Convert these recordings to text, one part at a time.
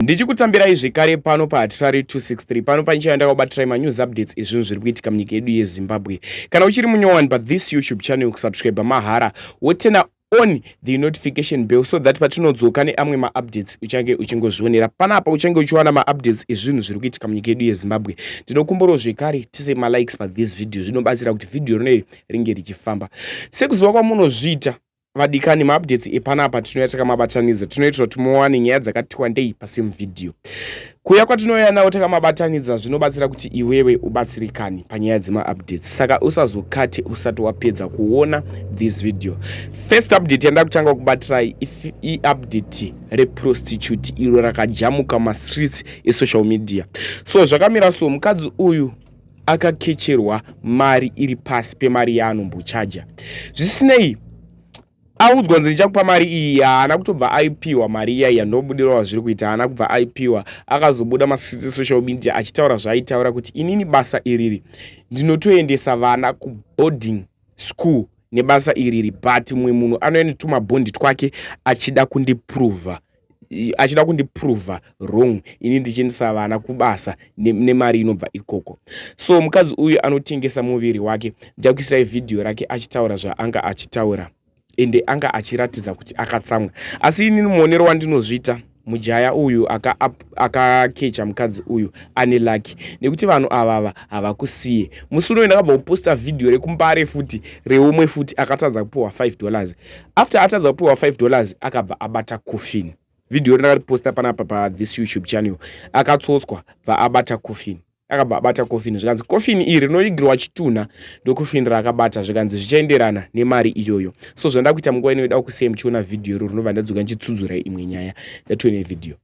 Ndichikutambirai zvekare pano paHatirari 263 pano pane channel ndakakubatirai manews updates ezvinhu zviri kuitika munyika yedu yeZimbabwe. Kana uchiri munyowani pathis YouTube channel kusubscriber mahara wotena on the notification bell so that patinodzoka neamwe maupdates uchange uchingozvionera panapa uchange uchiwana maupdates ezvinhu zviri kuitika munyika yedu yezimbabwe ndinokumburawo zvekare tise malikes pathis video zvinobatsira kuti vhidhiyo rinoiri ringe richifamba sekuziva kwamunozviita Vadikani maupdates epanapa tinouya takamabatanidza tinoitira kuti muwane nyaya dzakati wandei pasame video kuya kwatinouya nawo takamabatanidza zvinobatsira kuti iwewe ubatsirikani panyaya dzemaupdates saka usazokate usati wapedza kuona this video first update yandida kutanga kubatirai iupdate reprostitute iro rakajamuka mastreets esocial media so zvakamira so mukadzi uyu akakecherwa mari iri pasi pemari yaanombochaja zvisinei audzwa nzi ndichakupa mari iyi haana kutobva aipiwa mari iya yandobudira wazviri kuita haana kubva aipiwa akazobuda masisi social media achitaura zvaaitaura kuti inini basa iriri ndinotoendesa vana kuboarding school nebasa iriri but mumwe munhu anouya netumabhondi twake achida kundiprova achida kundiprova wrong ini ndichiendesa vana kubasa nemari ne inobva ikoko so mukadzi uyu anotengesa muviri wake ndichakuisirai vhidhiyo rake achitaura zvaanga achitaura ende anga achiratidza kuti akatsamwa asi inini muonero wandinozviita mujaya uyu akakecha aka mukadzi uyu ane laki nekuti vanhu avava havakusiye musi unoyo ndakabva kuposta vhidhiyo rekumbare futi reumwe futi akatadza kupiwa 5 dollars after atadza kupiwa 5 dollars akabva abata coffin video iri ndakariposta panapa pa this youtube channel akatsotswa bva abata coffin akabva abata coffin zvikanzi coffin iri rinoigirwa chitunha ndocoffin raakabata zvikanzi zvichaenderana nemari iyoyo so zvandakuita munguva inoida kusei muchiona video iro rinobva ndadzoka ndichitsudzura imwe nyaya yatone video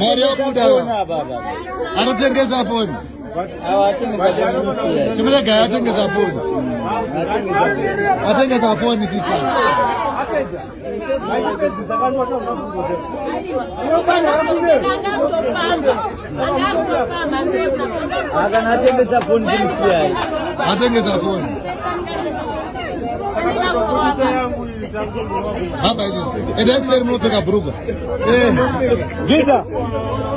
mari yabuda anotengesa foni chimuregai atengesa foni atengesa foni sisa akana atengesa foni kimusiyai atengesa foni Hamba hivi. Enda kusema mnataka buruga. Eh. Giza.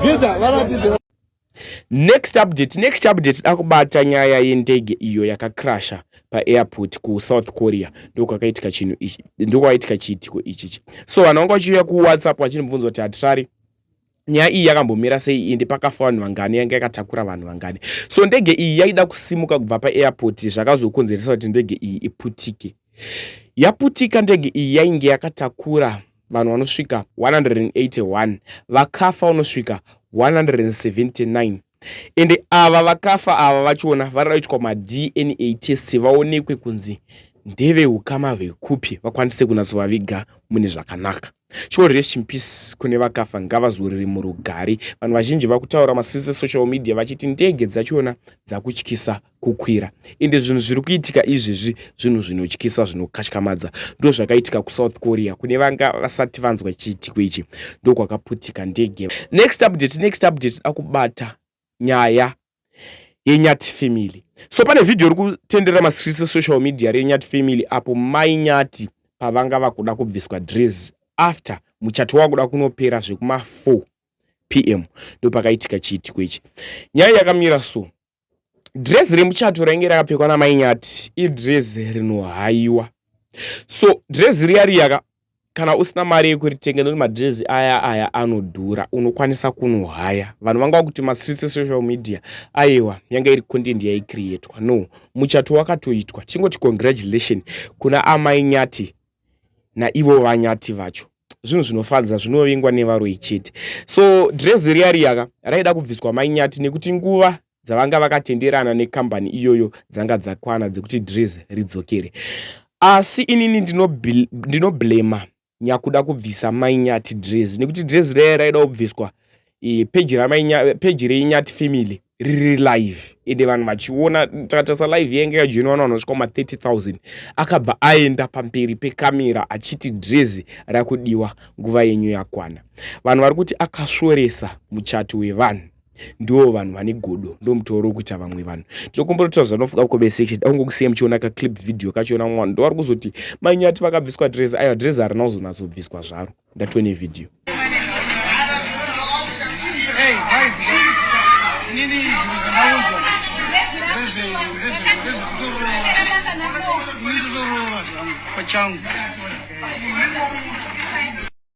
Giza wanatize. Next update, next update dakubata nyaya yendege iyo yakakrasha paairport kusouth korea ndokwakaitika chinhu ichi ndokwakaitika chiitiko ichichi so vanhu vanga vachiuya kuwhatsapp vachinibvunza kuti hatirari nyaya iyi yakambomira sei ende pakafa vanhu vangani yanga yakatakura vanhu vangani so ndege iyi yaida kusimuka kubva paairport zvakazokonzeresa kuti ndege iyi iputike yaputika ndege iyi yainge yakatakura vanhu vanosvika 181 vakafa unosvika 179 ende ava vakafa ava vachona varida kuitwa madna test vaonekwe kunzi ndeveukama vekupi vakwanise kunatsovaviga mune zvakanaka Sure rest in peace kune vakafa ngavazorere murugare. Vanhu vazhinji vakutaura masese social media vachiti ndege dzachona dzakutyisa kukwira. Ende zvinhu zviri kuitika izvezvi zvinhu zvinotyisa zvinokatyamadza. Ndozvakaitika kuSouth Korea kune vanga vasati vanzwa chiitiko ichi ndokwakaputika ndege. Next update next update akubata nyaya yenyati family so pane vhidhiyo iri kutenderera masirisi esocial media renyati family apo mai nyati pavanga vakuda kubviswa dress after muchato wakuda kunopera zvekuma4 p m ndopakaitika chiitiko ichi nyaya yakamira so dress remuchato rainge rakapfekwa namai nyati idress rinohaiwa so dress riya riyaka Kana usina mari yekuritenga nekuti madrezi aya aya anodhura unokwanisa kunohaya vanhu vanga vakuti mastreets esocial media ayewa yanga iri content yaicreatwa no muchato wakatoitwa tingoti congratulation kuna amai nyati naivo vanyati vacho zvinhu zvinofadza zvinovingwa nevaroyi chete so drezi riya riyaka raida kubviswa mai nyati nekuti nguva dzavanga vakatenderana nekambani iyoyo dzanga dzakwana dzekuti Dries ridzokere. Asi inini ndinoblema ndino nyakuda kubvisa mai Nyati Dries nekuti Dries raiya raida kubviswa e, peji ramai peji renyati family riri live ende vanhu vachiona takatasa live yainge yajoina vanhu vanosvika ma 30000 akabva aenda pamberi pekamera achiti drezi rakudiwa nguva yenyu yakwana vanhu vari kuti akasvoresa muchato wevanhu ndiwo vanhu vane godo ndo mutoro kuita vamwe vanhu tinokumbira kuti zvanofuka kucomment section daunge kusiya muchiona ka clip video kachona mwana ndovari kuzoti manyati vakabviswa dress ayo dress harina kuzonatsobviswa zvaro ndatone video pachangu